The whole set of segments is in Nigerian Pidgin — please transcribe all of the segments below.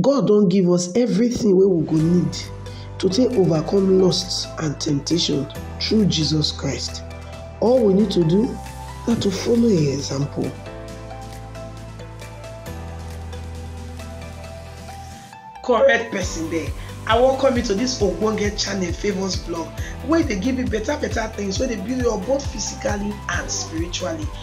God don give us everything wey we go need to take overcome lust and temptation through Jesus Christ. All we need to do na to follow im example. correct person there i welcome you to this ogbonge channel favours blog wey dey give you better better things wey dey build you up both physically and spiritually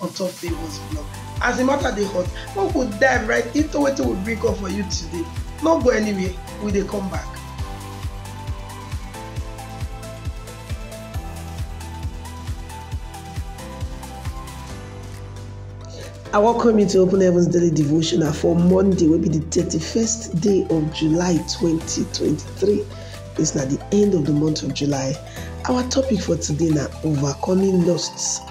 on top Favour's blog. As the matter dey hot, we go dive right into wetin we bring up for you today. No go anywhere, we dey come back. I welcome you to Open Heavens Daily Devotional for Monday, will be the 31st day of July 2023. It's not the end of the month of July. Our topic for today now overcoming lusts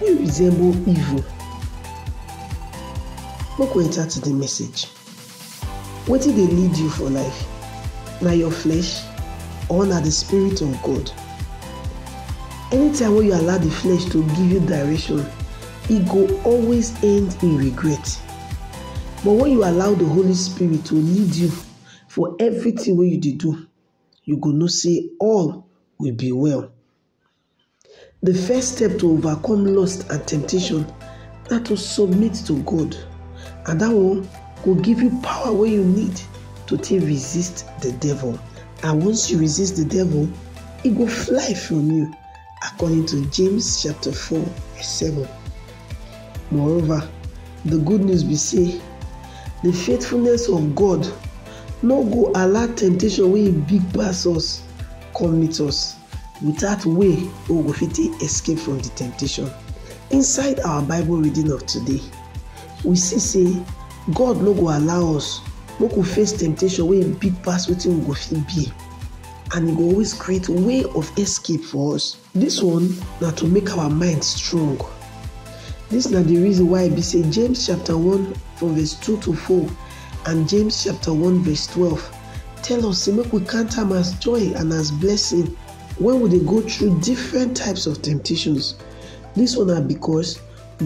Wey resemble evil. Make we enter to the message. Wetin dey lead you for life? Na your flesh or na the spirit of God? Anytime wey you allow the flesh to give you direction, e go always end in regret. But when you allow the Holy Spirit to lead you for everything wey you dey do, you go know say all will be well. The first step to overcome lust and temptation na to submit to God and that one go give you power wey you need to take resist the devil and once you resist the devil, e go fly from you according to James chapter 4 verse 7. Moreover, the good news be say the faithfulness of God no go allow temptation wey e big pass us come meet us. Without way wey we go fit take escape from di temptation. Inside our Bible reading of today, we see say God no go allow us make we face temptation wey e big pass wetin we go fit bear and e go always create way of escape for us. Dis one na to make our mind strong. Dis na di reason why e be say James chapter one from verse two to four and James chapter one verse twelve. tell us say make we count am as joy and as blessing when we dey go through different types of temptations. This one na because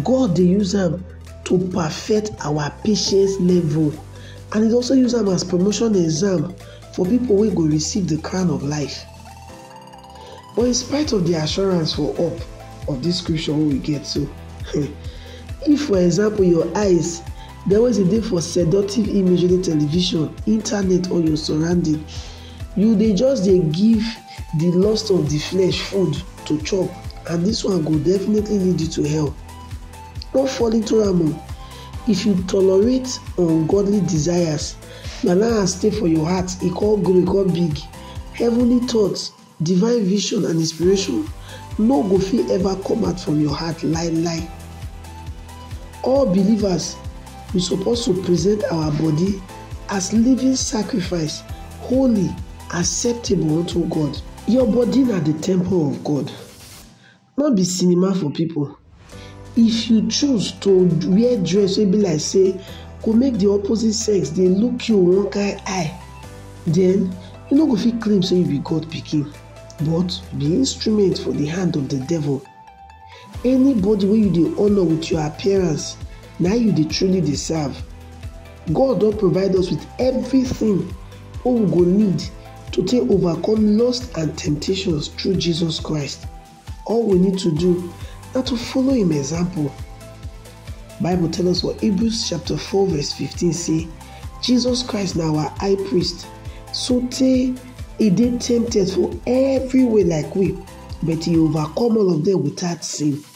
God dey use am to perfect our patience level and he also use am as promotion exam for people wey go receive the crown of life. But in spite of the assurance for up of this scripture wey we get so, if for example your eyes dey always dey for seductive image wey dey television, internet or your surrounding, you dey just dey give the lust of the flesh food to chop and this one go definitely lead you to hell. No fall into am o. If you tolerate ungodly desires, na now and stay for your heart, e come grow, e come big. Heavenly thoughts, divine vision and inspiration no go fit ever come out from your heart lai lai. All believers, we suppose to present our body as living sacrifice, holy, acceptable unto God. Your body na the temple of God. No be cinema for people. If you choose to wear dress wey be like say go make the opposite sex dey look you one kind eye, then you no go fit claim say you be God pikin, but you be instrument for the hand of the devil. Anybody wey you dey honor with your appearance, na you dey truly dey serve. God don provide us with everything wey we go need to take overcome lust and temptations through Jesus Christ. All we need to do na to follow im example. Bible tell us for Hebrews chapter 4 verse 15 say Jesus Christ na our high priest sotey e dey tempted for every way like we but e overcome all of dem without sin.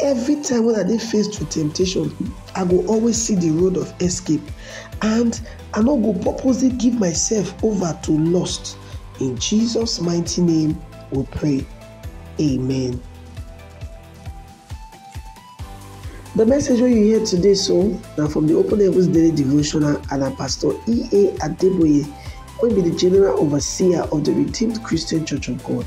Every time when I dey faced with temptation, I go always see the road of escape and I no go purposely give myself over to lust. In Jesus' mighty name we pray. Amen. The message wey you hear today so na from the Open Heavens Daily Devotional and na Pastor E.A. Adeboye wey be the General Overseer of the Redeemed Christian Church of God.